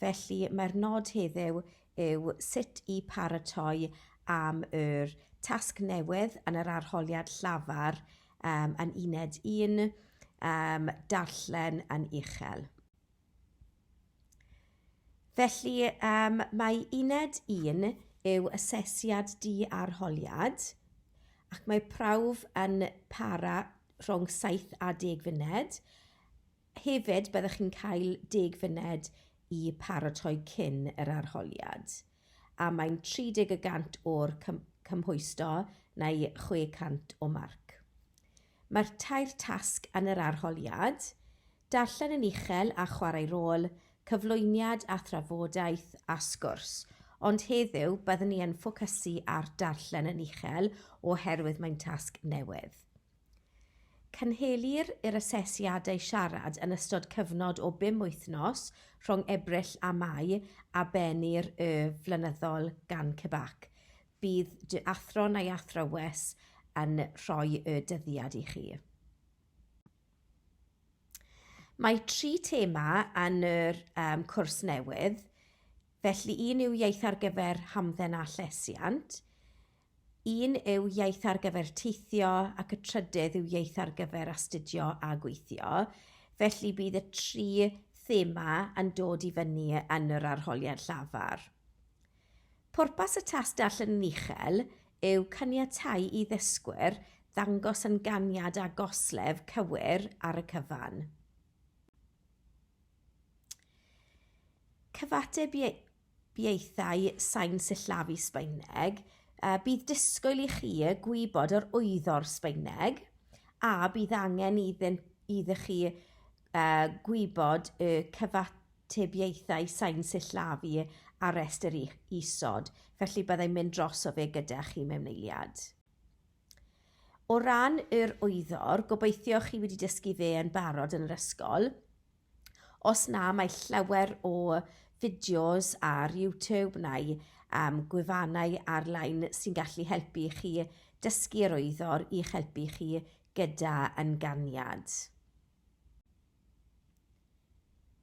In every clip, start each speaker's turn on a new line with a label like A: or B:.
A: Felly, mae'r nod heddiw yw sut i paratoi am yr tasg newydd yn yr arholiad llafar um, yn uned un, um, darllen yn uchel. Felly, um, mae uned un yw asesiad di arholiad ac mae prawf yn para rhwng 7 a 10 funed Hefyd, byddwch chi'n cael deg funud i paratoi cyn yr arholiad, a mae'n 30 y gant o'r cymhwysto neu 600 o marc. Mae'r tair tasg yn yr arholiad, darllen yn uchel a chwarae rôl, cyflwyniad a thrafodaeth a sgwrs, ond heddiw byddwn ni yn ffocysu ar darllen yn uchel oherwydd mae'n tasg newydd. Cynhelir yr asesiadau siarad yn ystod cyfnod o bum wythnos rhwng Ebrill a Mai a bennir y flynyddol gan CBAC. Bydd dy athro neu athrawes yn rhoi y dyddiad i chi. Mae tri thema yn yr um, cwrs newydd, felly un yw iaith ar gyfer hamdden a llesiant, Un yw iaith ar gyfer teithio ac y trydydd yw iaith ar gyfer astudio a gweithio. Felly bydd y tri thema yn dod i fyny yn yr arholiad llafar. Pwrpas y test darllen yn uchel yw caniatáu i ddysgwyr ddangos ynganiad a goslef cywir ar y cyfan. Cyfateb Pieithau sain sillafu Sbaeneg, a bydd disgwyl i chi gwybod yr wyddor Sbaeneg, a bydd angen iddyn, iddo chi uh, gwybod y cyfatebiaethau sain sillafu ar restr isod, felly byddai'n mynd dros o fe gyda chi mewn eiliad. O ran yr wyddor, gobeithio chi wedi dysgu fe yn barod yn yr ysgol, Os na, mae llawer o fideos ar YouTube neu um, gwefannau ar-lein sy'n gallu helpu chi dysgu yr oeddor i'ch helpu chi gyda yn ganiad.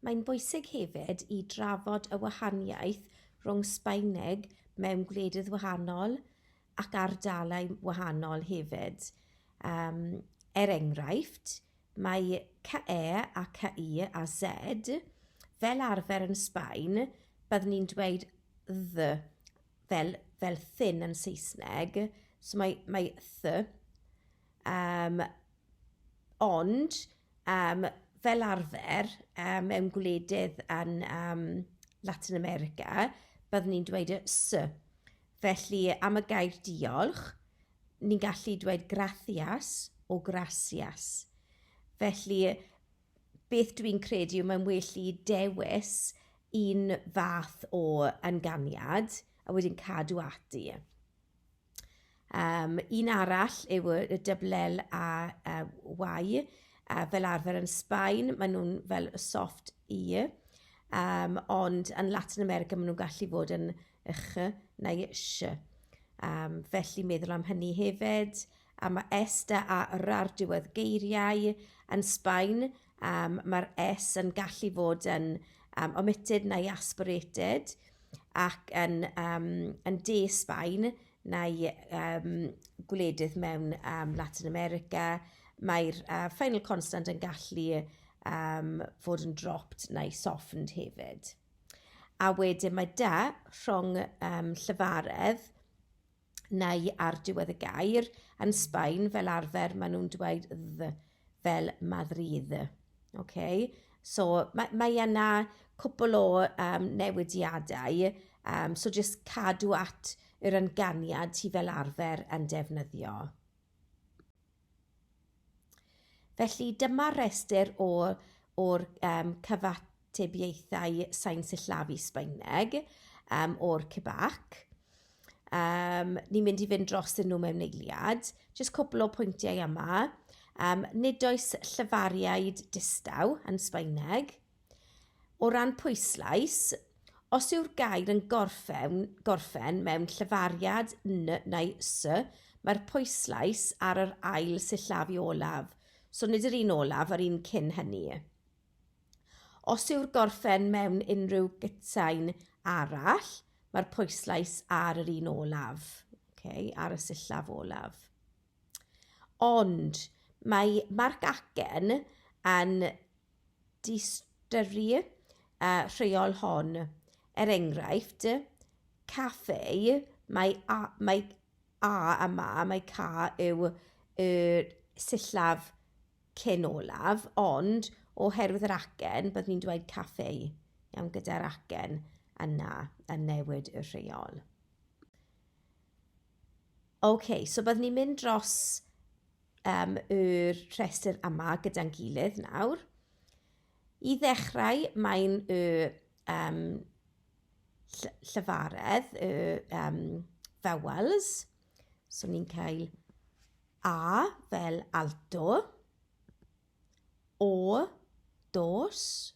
A: Mae'n bwysig hefyd i drafod y wahaniaeth rhwng Sbaeneg mewn gwledydd wahanol ac ardalai wahanol hefyd. Um, er enghraifft, Mae CE a CI a Z fel arfer yn Sbaen, byddwn ni'n dweud the fel, fel thin yn Saesneg, so mae, mae the, um, ond um, fel arfer um, mewn gwledydd yn um, Latin America, byddwn ni'n dweud y sy. Felly, am y gair diolch, ni'n gallu dweud gracias o gracias. Felly, beth dwi'n credu yw mae'n well i dewis un fath o ynganiad a wedyn cadw ati. Um, un arall yw y dyblel a uh, y uh, fel arfer yn Sbaen, maen nhw'n fel soft i, um, ond yn Latin America maen nhw'n gallu fod yn y ch neu y sh. Um, felly meddwl am hynny hefyd. A mae est a a r ar diwedd geiriau yn Sbaen, um, mae'r s yn gallu fod yn um, omitted neu aspirated ac yn, um, yn de Sbaen neu um, gwledydd mewn um, Latin America, mae'r uh, final constant yn gallu um, fod yn dropped neu softened hefyd. A wedyn mae 'da' rhwng yym llefaredd neu ar diwedd y gair. Yn Sbaen fel arfer maen nhw'n dweud 'dd' fel 'Madrid'. Ok? So ma' mae yna cwpwl o yym newidiadau yym so jyst cadw at yr ynganiad ti fel arfer yn defnyddio. Felly, dyma'r rhestr o, o'r um, cyfatebiaethau sain sillafu Sbaeneg um, o'r CBAC. Um, ni'n mynd i fynd dros yn nhw mewn eiliad. Jyst cwpl o pwyntiau yma. Um, nid oes llyfariaid distaw yn Sbaeneg. O ran pwyslais, os yw'r gair yn gorffen, gorffen mewn llefariad n neu s, mae'r pwyslais ar yr ail sillafu olaf, so nid yr un olaf â'r un cyn hynny. Os yw'r gorffen mewn unrhyw gytsain arall, mae'r pwyslais ar yr un olaf, okay, ar y sillaf olaf. Ond mae Marc Acen yn diystyru y rheol hon. Er enghraifft, café, mae a, mae a a ma, mae ca yw y sillaf cyn olaf, ond oherwydd yr acen, byddwn i'n dweud café, iawn, gyda'r acen yna yn newid y rheol. Ok, so byddwn i'n mynd dros... um, y rhestr yma gyda'n gilydd nawr. I ddechrau, mae'n y um, llyfaredd, y um, vowels. So ni'n cael A fel alto, O, dos,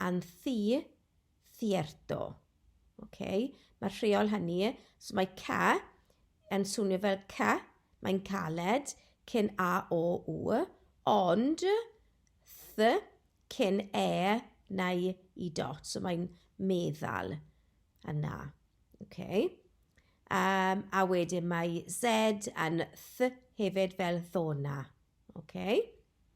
A: and thi, thierto. Okay? Mae'r rheol hynny, so mae ca yn swnio fel ca, mae'n caled, cyn a, o, u, ond th, cyn e, neu i dot, so mae'n meddal yna. Okay? Um, a wedyn mae z yn th hefyd fel ddona. Okay?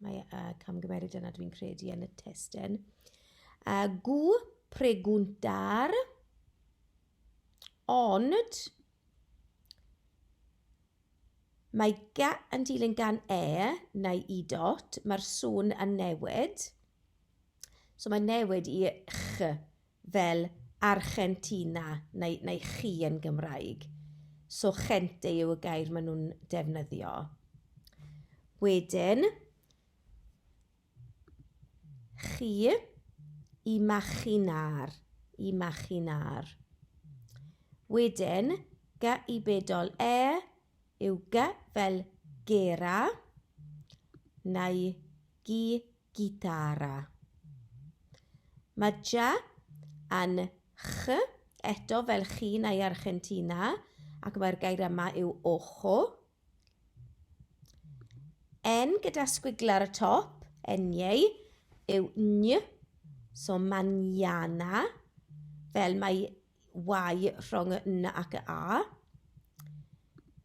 A: Mae y camgymeriad yna, dwi'n credu, yn y testyn. A gw preguntar, ond mae ga yn dilyn gan e neu i dot, mae'r sŵn yn newid. So mae'n newid i ch fel Archentina neu neu chi yn Gymraeg. So gente yw y gair maen nhw'n defnyddio. Wedyn, chi, imaginar, imaginar. Wedyn, gy i bedol e yw gy fel gera neu gy gitara. Mae ja yn ch eto fel chi neu Argentina ac mae'r gair yma yw ojo. N gyda sgwigl ar y top, enieu, yw ny, so mañana, fel mae Y rhwng y N ac y A.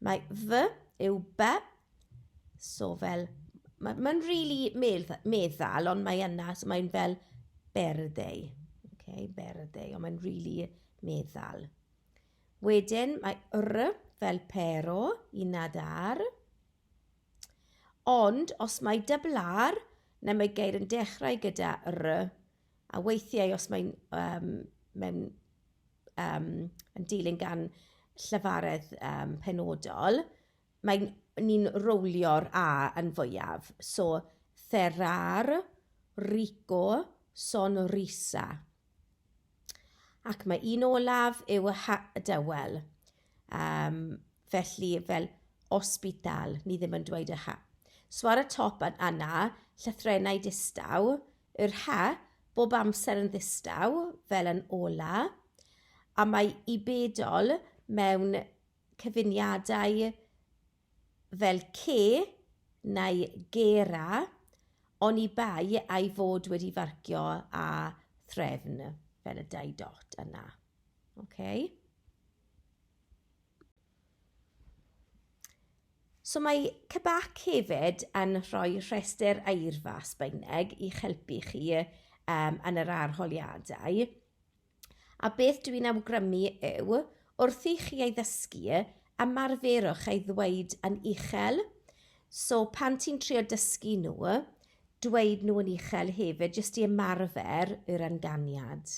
A: Mae fy yw by. So fel ma' mae'n rili medd- meddal ond mae yna... so mae'n fel berdei. Ok berdei ond mae'n rili meddal. Wedyn mae R fel pero, uned ar. Ond os mae double-r neu mae geir yn dechrau gyda R... A weithiau os mae'n yym mae'n yym yn dilyn gan llefaredd yym penodol mae'n... ni'n rowlio'r a yn fwyaf. So cerrar, rico, sonrisa. Ac mae un olaf yw y ha- y dywel. Yym felly fel hospital ni ddim yn dweud y ha. So ar y top yn yna llythrennau distaw Yr ha, bob amser yn ddistaw, fel yn ola, a mae i bedol mewn cyfuniadau fel ce neu gera, oni bai a'i fod wedi farcio â threfn, fel y dau dot yna. Ocê? So mae CBAC hefyd yn rhoi rhestr eirfa Sbaeneg i'ch helpu chi um, yn yr arholiadau. A beth dw i'n awgrymu yw, wrth i chi ei ddysgu, ymarferwch ei ddweud yn uchel. So pan ti'n trio dysgu nhw, dweud nhw yn uchel hefyd, jyst i ymarfer yr ynganiad.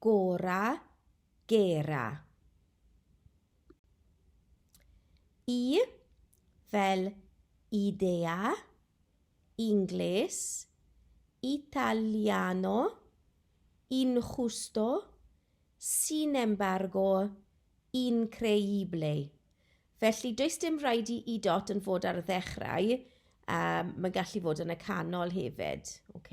A: Gora, gera. I fel idea, Ingles, Italiano, injusto, sin embargo, increíble. Felly, does dim rhaid i i dot yn fod ar y ddechrau, yym mae'n gallu fod yn y canol hefyd. Ok.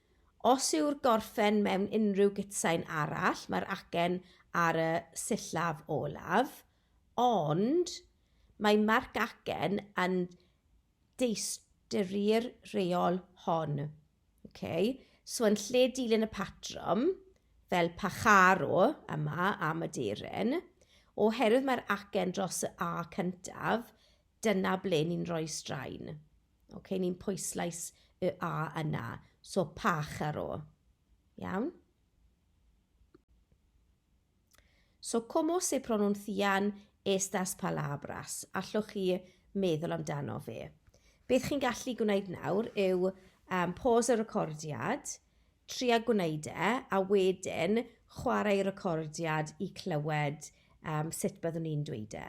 A: Os yw'r gorffen mewn unrhyw gutsain arall, mae'r acen ar y sillaf olaf, ond mae marc acen yn diystyru'r rheol hon. Ok, so yn lle dilyn y patrwm, fel Pacharo yma am aderyn, oherwydd mae'r acen dros y A cyntaf, dyna ble ni'n rhoi straen. Oce, ni'n pwyslais y A yna. So, pach ar ôl. Iawn? So, como se pronuncian estas palabras? Allwch chi meddwl amdano fe? Beth chi'n gallu gwneud nawr yw um, pause y recordiad, tria gwneud e, a wedyn chwarae y recordiad i clywed um, sut byddwn ni'n dweud e.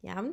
A: Iawn?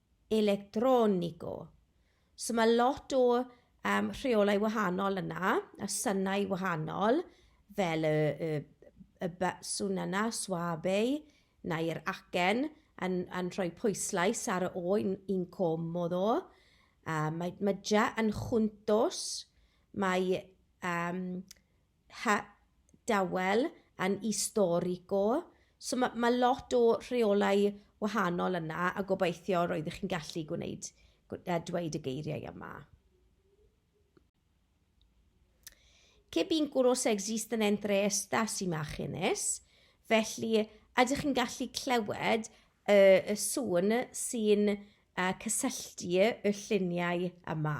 A: electronico. So mae lot o um, rheolau wahanol yna, a synau wahanol, fel y, y, y baswn yna, swabeu, neu'r acen, yn, yn rhoi pwyslais ar y o yn, yn comodd o. Um, mae, mae ja yn chwntos, mae um, ha dawel yn istorico so ma' ma' lot o rheolau wahanol yna a gobeithio roeddech chi'n gallu gwneud gw- yy dweud y geiriau yma. Que bínculos existen entre estas imágenes? Felly, ydych chi'n gallu clywed y, y sŵn sy'n uh, cysylltu y lluniau yma?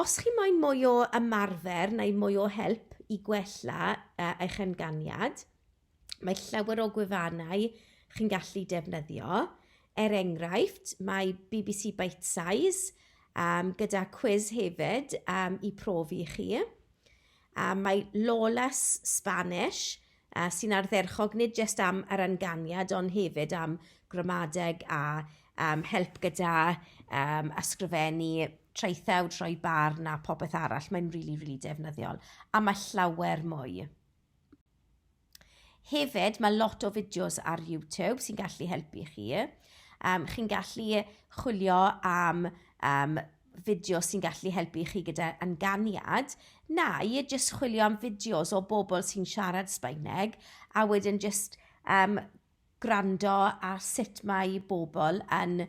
A: Os chi moyn mwy o ymarfer neu mwy o help i gwella uh, eich ynganiad, mae llawer o gwefannau chi'n gallu defnyddio. Er enghraifft, mae BBC Bite Size um, gyda cwiz hefyd um, i profi chi. A mae Lawless Spanish a sy'n ardderchog nid jyst am yr ynganiad ond hefyd am gramadeg a um, help gyda um, ysgrifennu traethawd, rhoi barn a popeth arall. Mae'n rili, really, rili really defnyddiol. A mae llawer mwy. Hefyd, mae lot o fideos ar YouTube sy'n gallu helpu chi. Um, chi'n gallu chwilio am um, fideo sy'n gallu helpu chi gyda ynganiad, neu jyst chwilio am fideos o bobl sy'n siarad Sbaeneg, a wedyn jyst um, gwrando ar sut mae bobl yn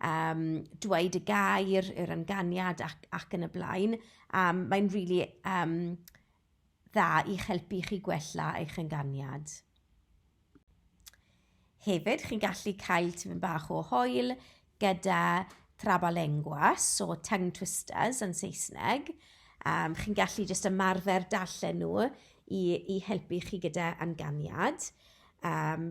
A: um, dweud y gair, yr ynganiad ac, ac yn y blaen. Um, mae'n really um, dda i'ch helpu i chi gwella eich ynganiad. Hefyd, chi'n gallu cael tipyn bach o hoel gyda trabalenguas, so tongue twisters yn Saesneg. Um, chi'n gallu jyst ymarfer darllen nhw i, i helpu chi gyda ynganiad. Um,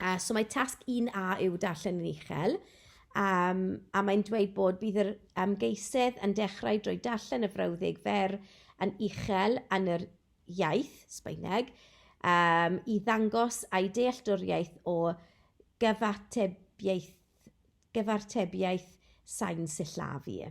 A: Uh, so mae tasg 1A yw darllen yn uchel, um, a mae'n dweud bod bydd yr ymgeisydd yn dechrau drwy darllen y frawddeg fer yn uchel yn yr iaith, Sbaeneg, um, i ddangos ei dealltwriaeth o gyfatebiaeth, gyfartebiaeth sain sillafu.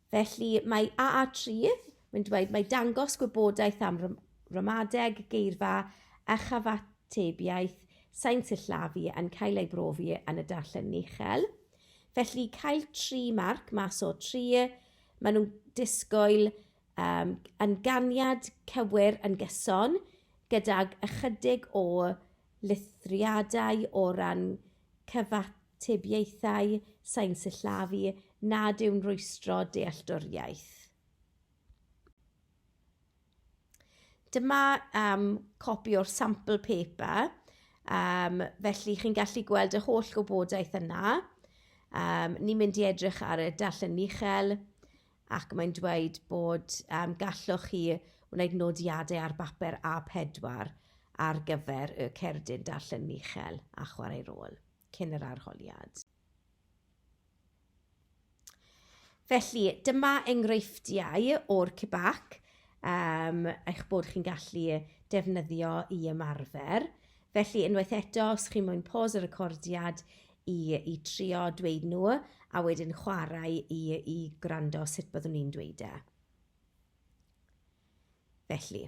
A: Felly, mae AA-Trudd, mae'n dweud, mae dangos gwybodaeth am ramadeg, geirfa a chyfatebiaeth sain sillafu yn cael ei brofi yn y darllen uchel. Felly, cael tri marc mas o tri, maen nhw'n disgwyl um, yn ganiad cywir yn gyson gydag ychydig o lithriadau o ran cyfatebiaeth Atebiaethau sain sillafu nad yw'n rwystro dealltwriaeth. Dyma yym copi o'r sample paper yym felly chi'n gallu gweld yr holl wybodaeth yna. Yym ni'n mynd i edrych ar y darllen yn uchel ac mae'n dweud bod yym gallwch chi wneud nodiadau ar bapur A4 ar gyfer y cerdyn darllen yn uchel a chwarae rôl. cyn yr arholiad. Felly, dyma enghreifftiau o'r CBAC um, eich bod chi'n gallu defnyddio i ymarfer. Felly, unwaith eto, os chi'n mwyn pos y recordiad i, i trio dweud nhw, a wedyn chwarae i, i gwrando sut byddwn ni'n dweud e. Felly,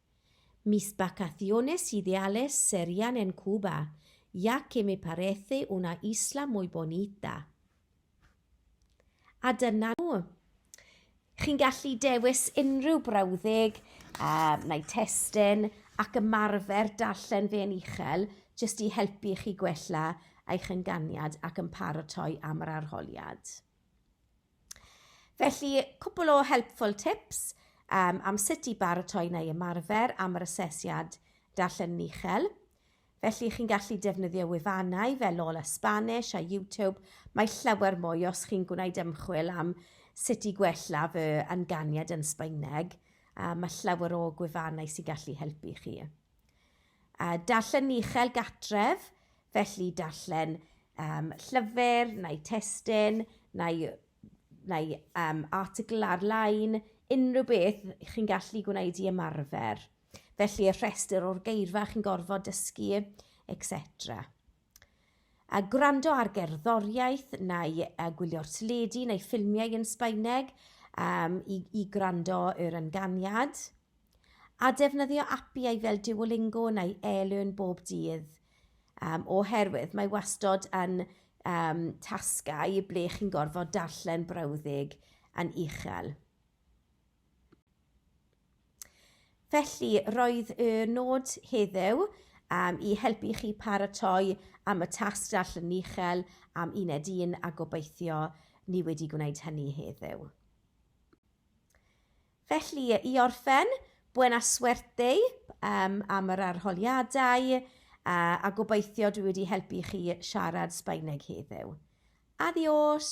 A: Mis vacaciones ideales serían en Cuba, ya que me parece una isla muy bonita. A dyna nhw. Chi'n gallu dewis unrhyw brawddeg um, neu testyn ac ymarfer darllen fe'n uchel jyst i helpu chi gwella eich ynganiad ac yn paratoi am yr arholiad. Felly, cwpl o helpful tips um, am sut i baratoi neu ymarfer am yr asesiad darllen yn uchel. Felly, chi'n gallu defnyddio wefannau fel Lola Spanish a YouTube. Mae llawer mwy os chi'n gwneud ymchwil am sut i gwella fy ynganiad yn Sbaeneg. Uh, mae llawer o gwefannau sy'n gallu helpu chi. Uh, darllen uchel gatref, felly darllen um, llyfr neu testyn neu, neu um, article ar-lein, unrhyw beth chi'n gallu gwneud i ymarfer. Felly y rhestr o'r geirfa chi'n gorfod dysgu, etc. a gwrando ar gerddoriaeth neu a gwylio'r teledu neu ffilmiau yn Sbaeneg um, i, i gwrando yr ynganiad, a defnyddio apiau fel Duolingo neu eLearn bob dydd, um, oherwydd mae wastod yn um, tasgau ble chi'n gorfod darllen brawddeg yn uchel. Felly, roedd y nod heddiw um, i helpu chi paratoi am y tasg darllen uchel am uned un a gobeithio ni wedi gwneud hynny heddiw. Felly, i orffen, buena suerte um, am yr arholiadau uh, a gobeithio dwi wedi helpu chi siarad Sbaeneg heddiw. Adios!